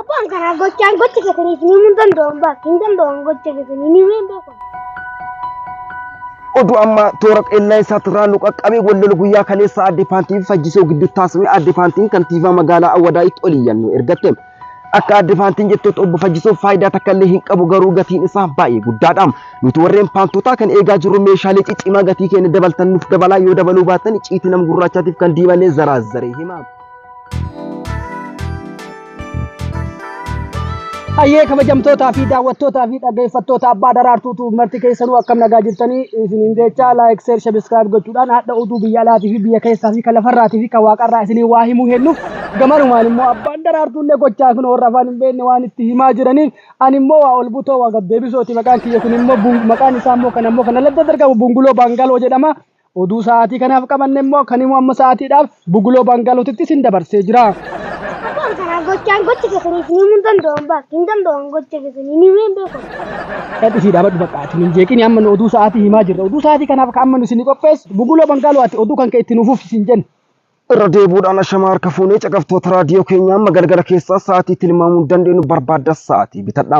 Abbaan karaa gochaan gocha keessanii isinii hin danda'an baas hin danda'an gocha keessanii ni hin beekan. Oduu ammaa toora qeellansaa turraa nu qaqqabe wallolo guyyaa kaleessa aadde paantii fi fajjisoo gidduu taasifame aadde paantiin kantiibaa magaalaa Awwadaayitti ol iyyannoo ergatte. Akka aadde paantiin jettetti obbo Fajjisoo faayidaa takka illee hin qabu garuu gatiin isaa baay'ee guddaadha. Nuti warreen paantootaa kan eegaa jirru meeshaalee ciccimaa gatii keenya dabaltan nuuf dabalaa yoo dabaluu baattan icciitii nama gurraachaatiif kan diimanne zaraa zaree hima. Hayyee kabajamtootaa fi daawwattootaa fi dhaggeeffattoota abbaa daraartuutu marti keessanuu akkam nagaa jirtanii isiniin jecha laayik seer sabiskiraayib gochuudhaan haadha oduu biyya alaatii fi biyya keessaa fi kan lafarraatii fi kan waaqarraa isinii waa himuu heennuuf gamanumaan immoo abbaan daraartuullee gochaa kun warra afaan hin beekne waan itti himaa jiraniif ani immoo waa ol butoo waa gaddeebisooti maqaan kiyya kun immoo bun- maqaan isaa immoo kan ammoo kan aladda dargamu bunguloo baangaloo jedhama. Oduu sa'aatii kanaaf qabanne immoo kan immoo amma sa'aatiidhaaf Buguloo Baangaalootitti sin dabarsee jira. Waan kana gochaan gocha keessanii isin himuu hin danda'an baas hin danda'an gocha keessanii ni himee hin beeku. Dhadhisii dhaabadhu bakka ati hin jeeqini amma nu oduu sa'aatii himaa jirra. Oduu sa'aatii kanaaf kan amma nu isin qopheessu Buguloo Baangaaloo ati oduu kan kee itti nuuf uffisi hin jennu. Irra deebuudhaan ashamaa harka fuunee caqaftoota raadiyoo keenyaa amma galgala keessaa sa'aatii tilmaamuu hin dandeenyu barbaadda sa'aatii bitadha.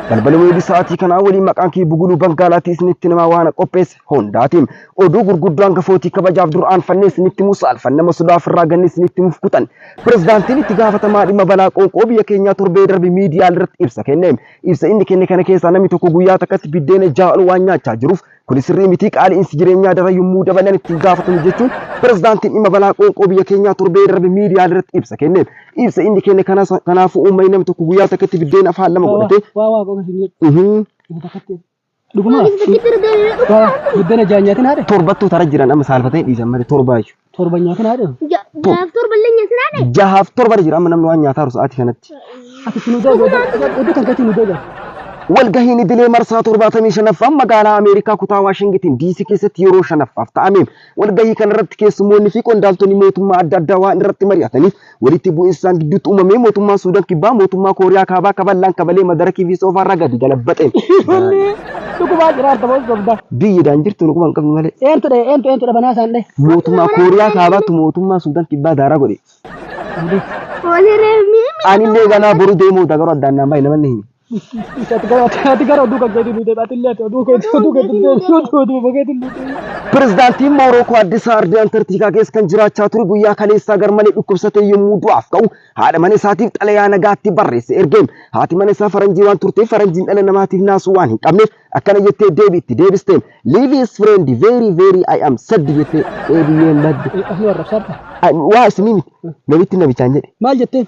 Balbali weebii sa'aatii kanaa waliin maqaan kee buguluu bangaalaatii isinitti namaa waan qopheesse hundaati. Oduu gurguddoo hangafootii kabajaaf dur aanfannee isinitti himu saalfan nama sodaa ofirraa ganne isinitti himuuf kutan. Pirezidaantiin itti gaafatamaa dhimma balaa qoonqoo biyya keenyaa torbee darbe miidiyaa irratti ibsa kenne. Ibsa inni kenne kana keessaa namni tokko guyyaa takkatti biddeena ja'a ol waan nyaachaa jiruuf Kuni sirrii miti qaali'insi jireenyaa daran yommuu dabalan ittiin gaafatamu jechuun pirezidaantiin dhimma balaa qoonqoo biyya keenyaa torbee darbe miidiyaalee irratti ibsa kenne. Ibsa inni kenne kanas kanaafuu uummanni namni tokko guyyaa takkatti biddeena afaan lama godhatee Waa waa qofa isin jedhu. Mhm. Inni takkatti. Dhuguma. Waa buddena jaanyaatiin haadhe. torbattuu tara jiran amma saalfatanii dhiisan malee torbaayyuu. Torba nyaata naa dheeru. Ja- Jaaf torba illee nyaata naa dheeru. Jahaaf torba jira amma namni waan nyaataa jiru sa'aatii kanatti. Ati itti nu deebi'e. Iddoo kan keetti nu deebi'e. Walgahiin idilee marsaa 75ffaan magaalaa Ameerikaa kutaa Waashingitiin DC keessatti yeroo shanaffaaf ta'ameem. Walgahii kanarratti keessummoonni fi qondaaltonni mootummaa adda addaa waan irratti mari'ataniif Walitti bu'iinsa isaan gidduutti uumamee mootummaan Suudan Kibbaa mootummaa Kooriyaa Kaabaa akka bal'aan kabalee madarakii fi soofaarraa gadi galabaxeen. Ijoollee dhugumaa jiraata moo sobda? Biyyi daan jirtu dhuguma hin qabnu malee. Eentu dha'e eentu eentu dhabanaa isaan dha'e? Mootummaa Kooriyaa Kaabaatu mootummaa Suudan Kibbaa daaraa godhe. Ani illee ganaa boru deemuu dagaroo addaan naan baay'ee namanni himi. Ati gara ati gara oduu kan keetii nu deebi. Ati illee ati oduu keetii oduu keetii deebi. Oduu oduu keetii nu deebi. Pirezidaantiin Moorookoo Addis Aardii Antarktikaa keessa kan jiraachaa ture guyyaa kaleessaa garmalee dhukkubsatee yommuu du'aaf ka'u haadha mana isaatiif xalayaa nagaatti barreesse ergeem. Haati mana isaa faranjii waan turteef faranjiin dhala namaatiif naasuu waan hin qabneef akkana jettee deebii itti deebisteem. Live is friend very very I am sad jettee deebiyyeen badde. Asni warra absaadha. Waa isinii miti. Namitti namichaan jedhe. Maal jetteen?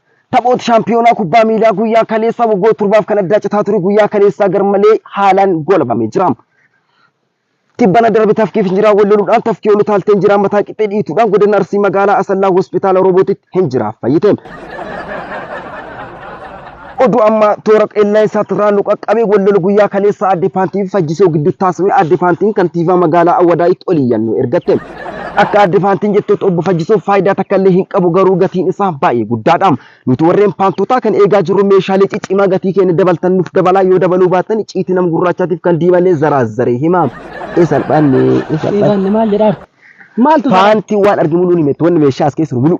Taphooti shaampiyoonaa kubbaa miilaa guyyaa kaleessaa waggoota torbaaf kan addaa citaa ture guyyaa kaleessaa garmalee haalaan goolabamee jira. Tibbana darbe tafkiif injiraan wal loluudhaan tafkii ol utaaltee injiraan mataa qixxee dhiituudhaan godina Arsii magaalaa Asallaa hospitaala Roobootitti injiraaf fayyite. Oduu ammaa toora qilleensaatti irraa nu qaqqabee wal lolu guyyaa kaleessaa aadde Paantii fi Fajjisoo gidduutti taasifame aadde Paantiin kantiibaa magaalaa Awwadaayitti ol iyyannoo ergatte. Akka Aadde Faantiin jettetti obbo Fayyisuun faayidaa takka illee hin qabu garuu gatiin isaa baay'ee guddaadha. Nuti warreen paantootaa kan eegaa jirru meeshaalee ciccimaa gatii keenya dabaltan nuuf dabalaa yoo dabaluu baattan icciitii nama gurraachaatiif kan diimallee zaraazzaree hima. Ee salphanne ee salphanne. Dhiibanne maal jedhaar? Maaltu jira? Paantiin waan argimu nuun himetti wanni meeshaa as keessa jiru muluu.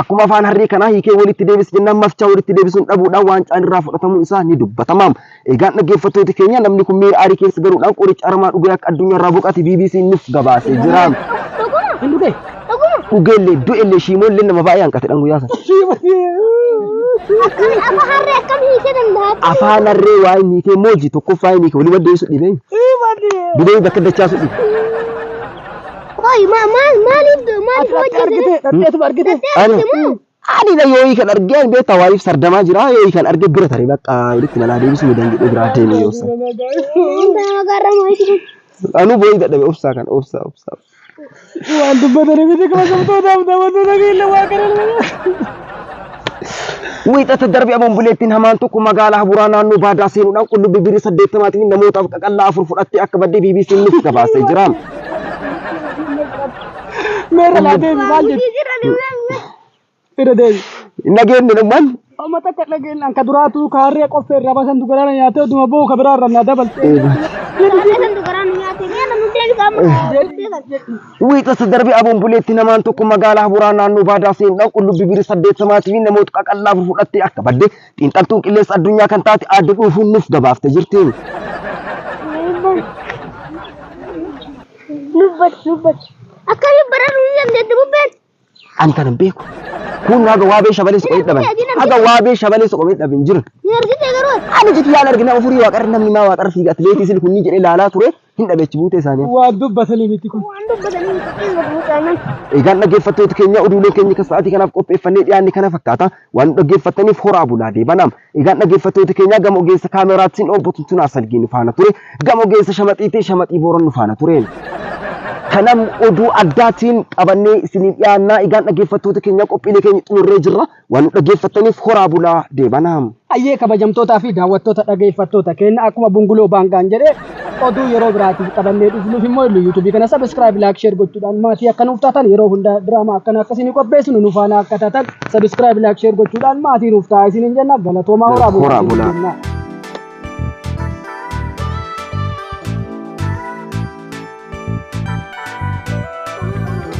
Akkuma afaan harree kanaa hiikee walitti deebis jennaan mafchaa walitti deebisuun dhabuudhaan waancaan irraa fudhatamuun isaa ni dubbatama. Eegaan dhaggeeffattooti keenya namni kun miira aarii keessa galuudhaan qoricha aramaa dhugee akka addunyaa irraa boqate BBC nuuf gabaasee jira. Hin dhugee? Dhugeellee du'ellee shiimoollee nama baay'ee hanqatedhaan guyyaa sana. Akkami afa harree akkam hiikee danda'a? Afaan harree waa inni hiikee mooji tokkoffaa inni hiikee walii maddeessu dhibee. Dhibee bakka dachaasu dhibe. Qoy ma maal maaliif do maaliif hojii argite dhadheetuma argite Ani ani da yoo kan arge ani beektaa waaliif sardamaa jira yoo kan arge bira tare bakka walitti nalaa deebisuu ni danda'u biraa deemi yoo san. Nama garra moo isin Anu booyi dadhabe obsaa kan obsaa obsaa. waan dubbatanii miti kabajamtootaaf daawwattoota keenya waa kana Wiixata darbe Aboon Buleettiin hamaan tokko magaalaa Habuuraa naannoo Baadaa seenuudhaan qullubbii birrii 80 fi namoota qaqallaa afur fudhattee akka badde BBC'n nuuf gabaasee jira. Meerra laa deemi maal jetti? Irra deemi. Nageenyi dhumman Amma takka dhageenyaan ka duraatuu ka harree qoffee irraa basan dugaraan nyaatee oduma boo ka biraa irraa naa dabalte. Kan dugaraan nyaate. Meerra nu deebisaa. Wiixata darbe Aboon Buleetti namaan tokko magaalaa Haburaa naannoo Baadaa seenudhaan qullubbii birii 80 fi namoota qaqallaa afur fudhattee akka badde xiinxaltuun qilleensa addunyaa kan taate aadde dhuufuun nuuf gabaafte jirti. Lubbatti lubbatti. Akkamiin bararuu ni dandeetti bubbeen? Ani kana hin beeku. Kun haga waabee shabalee soqomee dhaban. Haga waabee shabalee soqomee dhabe hin jiru. Ni argite garuu. Ani jiti yaala argina ofurii waaqarra namni maa waaqarra fiiga atileetii sili kunni jedhee laalaa ture hin dhabechi buutee isaanii. Waan dubbatanii miti kun. Waan dubbatanii miti kun gadi mucaanan. Egaan dhaggeeffattoota keenya oduulee keenya kan sa'aatii kanaaf qopheeffannee dhiyaanne kana fakkaata. Waan dhaggeeffattaniif horaa bulaa deebanaa. Egaan dhaggeeffattoota keenyaa gama ogeessa kaameraatiin obbo Tuntunaa Salgee nu faana ture. Gama ogeessa shamaxiitiin shamaxii booran nu faana ture. Kanam oduu addaatiin qabannee isiniif dhiyaannaa egaan dhaggeeffattoota keenyaa qophiilee keenya xumurree jirra. Waan nu dhaggeeffattaniif horaa bulaa deebanaa. Ayyee kabajamtootaa fi daawwattoota dhageeffattoota keenya akkuma bunguloo baangaan jedhe Oduu yeroo biraatiif qabannee dhufnuuf immoo illu yuutuubii kana sabiskiraayib laayik sheer gochuudhaan maatii akka nuuf taatan yeroo hunda diraamaa akkana akka isinii qopheessinu nu faana akka taatan sabiskiraayib laayik sheer gochuudhaan maatii nuuf ta'a isiniin jenna galatoomaa horaa bulaa Horaa bulaa. isiniin jenna.